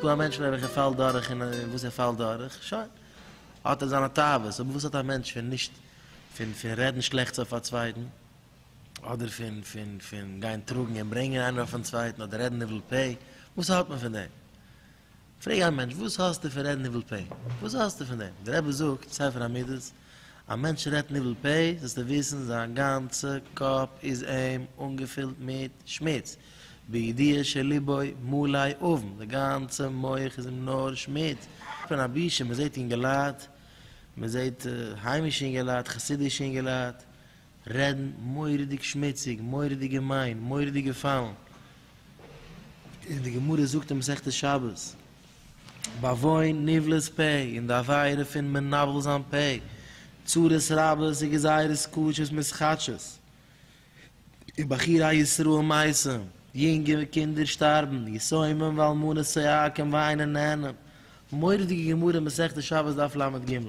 דא א מענטש פון וועלכע פאלט דורך און וואס ער פאלט דורך, שוין. האט ער זיינע תאוות, אבער וואס האט א מענטש פון נישט פון פון רעדן שלעכטס אויף א צווייטן, אדער פון פון פון גיין טראגן און ברענגען איינער אויפן צווייטן, אדער רעדן ניבול פה, וואס האט מען פון דעם? פרעג א מענטש, וואס האסטו פון רעדן ניבול פה? וואס האסטו פון דעם? דער רבי זאגט, ספר המידות, א מענטש רעדט ניבול פה, זאלסטו וויסן, זיין גאנצע קאפ איז אים אנגעפילט מיט שמוץ, בידיעה שליבו מלאי אבן, די גאנצע מח איז אים נאר שמוץ. פון א בושה, מען זעט אינגעלייט, מען זעט היימישע אינגעלייט, חסידישע אינגעלייט, רעדן מורא'דיג שמוציג, מורא'דיג געמיין, מורא'דיג געפאלן, און די גמרא זאגט אין מסכת שבת, בעוון נבלת פה, און די עבירה פון מנבל זיין פה, צרות רבות וגזירות קשות מסחטשות, און בחי' ר' ישראל מייסם, יונגע קינדער שטארבן, יתומים ואלמנות צועקים וויינען נענען, מורא'דיגע גמרא מסכת שבת דף לג,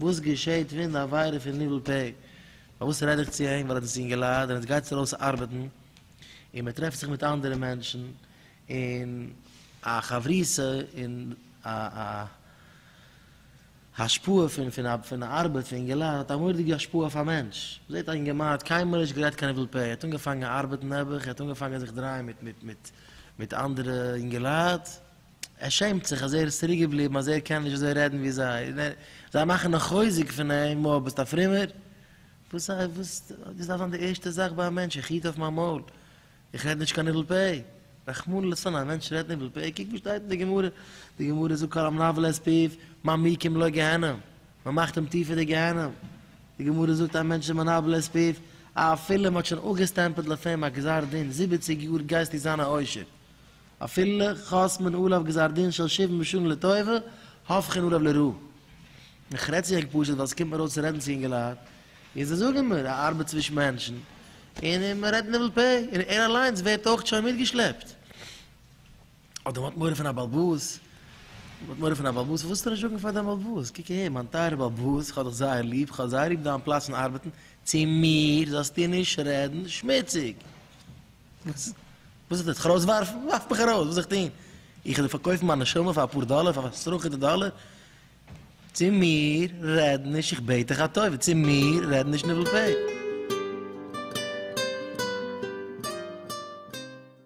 וואס געשעהט ווען די עבירה פון ניבול פה? פארוואס רעד איך צו אים? ווייל ער האט עס אינגעלייט און עטס גייטס ארויס ארבעטן און מען טרעפט זיך מיט אנדערע מענטשן און א חברותא און א א השפעה פון פון א פון א ארבעט פון אינגעלייט האט א מורא'דיגע השפעה אויף א מענטש. זעהט א אינגערמאן האט קיינמאל נישט גערעדט קיין ניבול פה ער האט אנגעפאנגען ארבעטן נעבעך ער האט אנגעפאנגען זיך דרייען מיט מיט מיט מיט אנדערע אינגעלייט, ער שעמט זיך אז ער איז צוריק געבליבן אז ער קען נישט אזוי רעדן ווי זיי און ער זיי מאכן א חוזק פון אים וואו ביסט א פרומער וואס א וואס דאס דארף זיין די ערשטע זאך ביי א מענטש איך היט אויף מיין מויל איך רעד נישט קיין ניבול פה רחמנא לצלן א מענטש רעדט ניבול פה קוק וואס שטייט אין די גמרא די גמרא זאגט כל המנבל את פיו מעמיקים לו גיהנום מען מאכט אים טיפער די גיהנום די גמרא זאגט א מענטש איז מנבל את פיו אפילו מען האט שוין אפגעסטעמפעלט אויף אים א גזר דין זיבעציג יאר גייסטו זיין א עושר אפילו חתמן עליו גזר דין של שבעים בשנים לטובה הפכין עליו לרעה. איך רעד צו ענק פשוט ווייל ס'קומט מיר אויס צו רעדן צו אינגעלייט, און זיי זאגן מיר א ארבעט צווישן מענטשן, און מען רעדט ניבול פה, און ער אליינס ווערט אויך שוין מיטגעשלעפט. אדער מ'האט מורא פון א באלבאס, מ'האט מורא פון א באלבאס, פארוואס זאלסטו נישט זאגן פאר דיין באלבאס, קוק אהער מיין טייערע באלבאס, איך האב דיך זייער ליב, איך האב זייער ליב דיין פלאץ פון ארבעטן, צו מיר זאלסטו נישט רעדן שמוציג. וואס איז דאס? זיך ארויסווארפן? ווארף מיך ארויס! וואס זאל איך טון? איך וועל דיר פארקויפן מיין נשמה פאר אפאר דאלער, פאר אפאר סרחות'דיגע דאלער? צו מיר רעד נישט, איך בעט דיך א טובה, צו מיר רעד נישט ניבול פה!